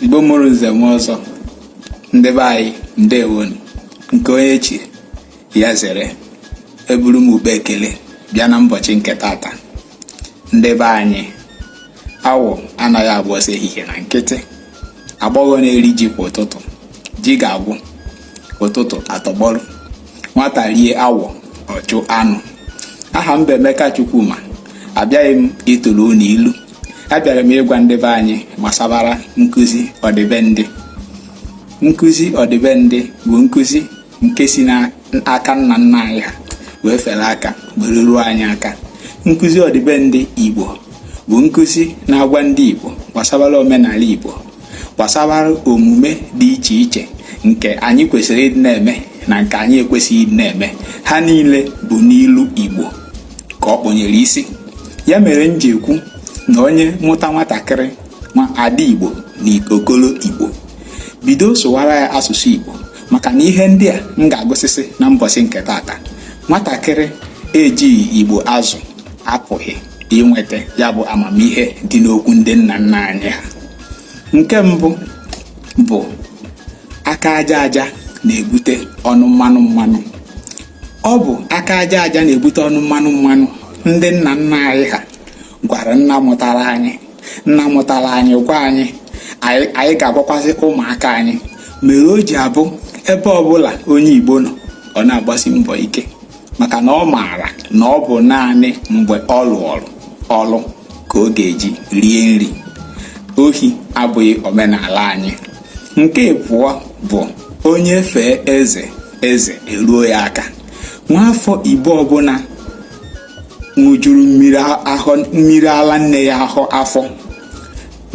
igbo mụrụ nze mụọ ọzọ ndị be anyị ndewonu nke onye chi ya zere eburu m ụkpa ekele bịa na mbọchị nke tata ndị be anyị awọ anaghị agba ọsọ ehihie na nkịtị agbọghọ na-eri ji kwa ụtụtụ ji ga-agwụ ụtụtụ atọgbọrọ nwata rie awọ ọ jụ anụ aha m bụ Emeka Chukwuma abịaghị m ịtụrụ unu ilu abịara m ịgwa ndị be anyị gbasara nkụzi ọdịbendị nkụzi ọdịbendị bụ nkụzi nke si n'aka nna nna anyị ha wee fere aka were ruo anyị aka nkụzi ọdịbendị igbo bụ nkụzi na-agwa ndị igbo gbasara omenala igbo gbasara omume dị iche iche nke anyị kwesịrị ịdị na-eme na nke anyị ekwesịghị ịdị na-eme ha niile bụ n'ilu igbo ka ọ kpọnyere isi ya mere m ji ekwu na onye mụta nwatakịrị ma ada igbo na okolo igbo bido sụwara ya asụsụ igbo maka na ihe ndị a m ga-agụsịsị na mbọchị nke tata nwatakịrị ejighị igbo azụ apụghị inweta ya bụ amamihe dị n'okwu ndị nna nna anyị ha nke mbụ bụ aka aja aja na-ebute ọnụ mmanụ mmanụ ọ bụ aka aja aja na-ebute ọnụ mmanụ mmanụ ndị nna nna anyị ha gwara nna mụtara anyị nna mụtara anyị gwa anyị anyị ga-agwakwasị ụmụaka anyị mere o ji abụ ebe ọbụla onye Igbo nọ ọ na-agbasi mbọ ike maka na ọ maara na ọ bụ naanị mgbe ọ lụọrụ ọrụ ka ọ ga-eji rie nri ohi abụghị omenala anyị nke abụọ bụ onye fee eze eze eruo ya aka nwaafọ igbo ọbụla ṅụjuru mmiri ala nne ya ahụ afọ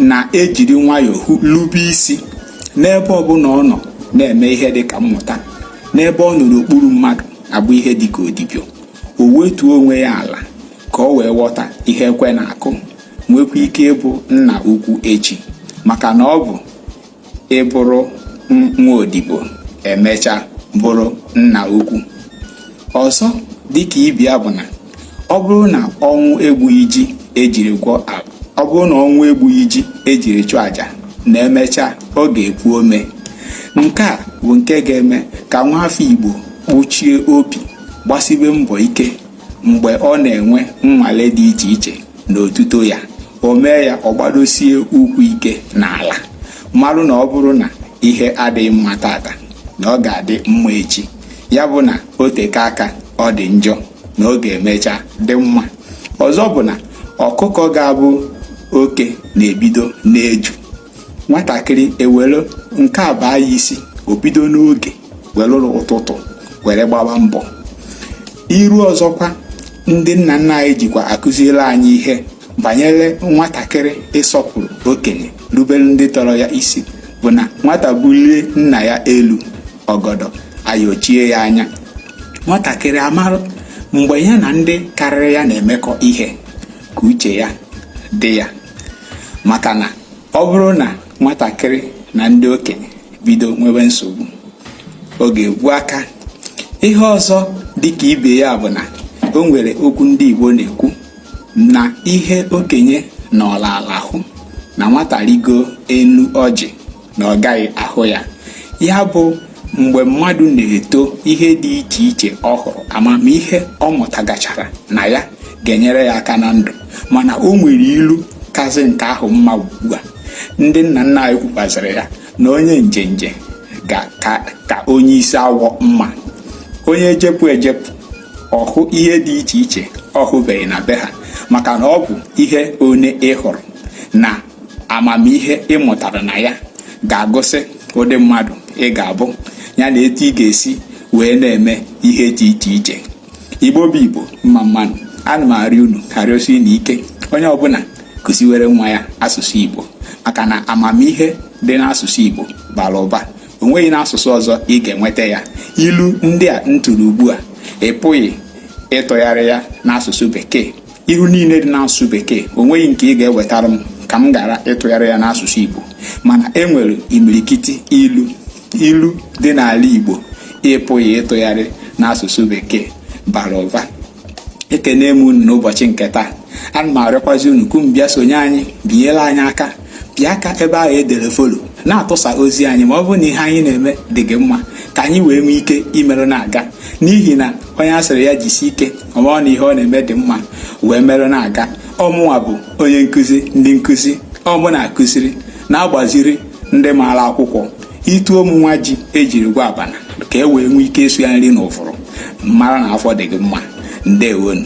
na-ejiri nwayọọ lube isi n'ebe ọbụla ọ nọ na-eme ihe dị ka mmụta n'ebe ọ nọ n'okpuru mmadụ abụ ihe dị ka odibo o wetuo onwe ya ala ka ọ wee ghọta ihe ekwe na-akụ nwekwa ike ịbụ nna ukwu echi maka na ọ bụ ịbụrụ nwa odibo emecha bụrụ nna ukwu ọzọ dịka ibe ya bụ na ọ bụrụ na ọnwụ egbughị ji ejiri gwọ abụ ọ bụrụ na ọnwụ egbughị ji ejiri chụọ aja na emecha ọ ga-epu ome nke a bụ nke ga-eme ka nwa afọ igbo kpuchie obi gbasibe mbọ ike mgbe ọ na-enwe nnwale dị iche iche na otuto ya o mee ya ọ gbadosie ụkwụ ike n'ala marụ na ọ bụrụ na ihe adịghị mma taata na ọ ga-adị mma echi ya bụ na o teka aka ọ dị njọ na ọ ga-emecha dị mma ọzọ bụ na ọkụkọ ga-abụ oke na-ebido n'eju nwatakịrị ewere nke a baa ya isi o bido n'oge welụrụ ụtụtụ were gbaba mbọ ilu ọzọkwa ndị nna nna anyị jikwa akụziere anyị ihe banyere nwatakịrị ịsọpụrụ okenye rubere ndị tọrọ ya isi bụ na nwata bulie nna ya elu ọgọdọ ayochie ya anya nwatakịrị amarụ mgbe ya na ndị karịrị ya na-emekọ ihe ka uche ya dị ya maka na ọ bụrụ na nwatakịrị na ndị okenye bido nwebe nsogbu ọ ga-egbu aka ihe ọzọ dịka ibe ya bụ na o nwere okwu ndị Igbo na-ekwu na ihe okenye nọrọ ala hụ na nwata rigo enu ọjị na ọ gaghị ahụ ya ya bụ mgbe mmadụ na-eto ihe dị iche iche ọ hụrụ amamihe ọ mụtagachara na ya ga-enyere ya aka na ndụ mana o nwere ilu kazi nke ahụ mma ugbu a ndị nna nna anyị kwukwazịrị ya na onye njenje ka onye isi awọ mma onye jepụ ejepụ ọ hụ ihe dị iche iche ọ hụbeghị na be ha maka na ọ bụ ihe onye ị hụrụ na amamihe ị mụtara na ya ga-egosi ụdị mmadụ ị ga-abụ ya na etu ị ga-esi wee na-eme ihe dị iche iche igbo bụ igbo mma mma nụ ana m arịọ unu na-arịọsi unu ike onye ọbụla kụziwere nwa ya asụsụ igbo maka na amamihe dị n'asụsụ igbo bara ụba o nweghị n'asụsụ ọzọ ị ga-enweta ya ilu ndị a m tụrụ ugbu a ị pụghị ịtụgharị ya n'asụsụ bekee ilu niile dị n'asụsụ bekee o nweghị nke ị ga-ewetara m ka m ghara ịtụgharị ya n'asụsụ igbo mana e nwere imirikiti ilu ilu dị n'ala igbo ị pụghị ịtụgharị n'asụsụ bekee bara ụba ekene m unu n'ụbọchị nke taa ana m arịọkwazi unu ka unu bịa sonye anyị binyere anyị aka pịa aka ebe ahụ e dere follow na-atụsa ozi anyị ma ọ bụrụ na ihe anyị na-eme dị gị mma ka anyị wee nwee ike imerụ na-aga n'ihi na onye a sịrị ya jisi ike ọ marụ na ihe ọ na-eme dị mma wee merụ na-aga ọ mụnwa bụ onye nkụzi ndị nkụzi ọ mụ na-akụziri na-agbaziri ndị maara akwụkwọ itu ọ mụnwa ji e jiri gwa abana ka e wee nwee ike ịsụ ya nri na ụfụrụ mara na afọ dị gị mma ndewonu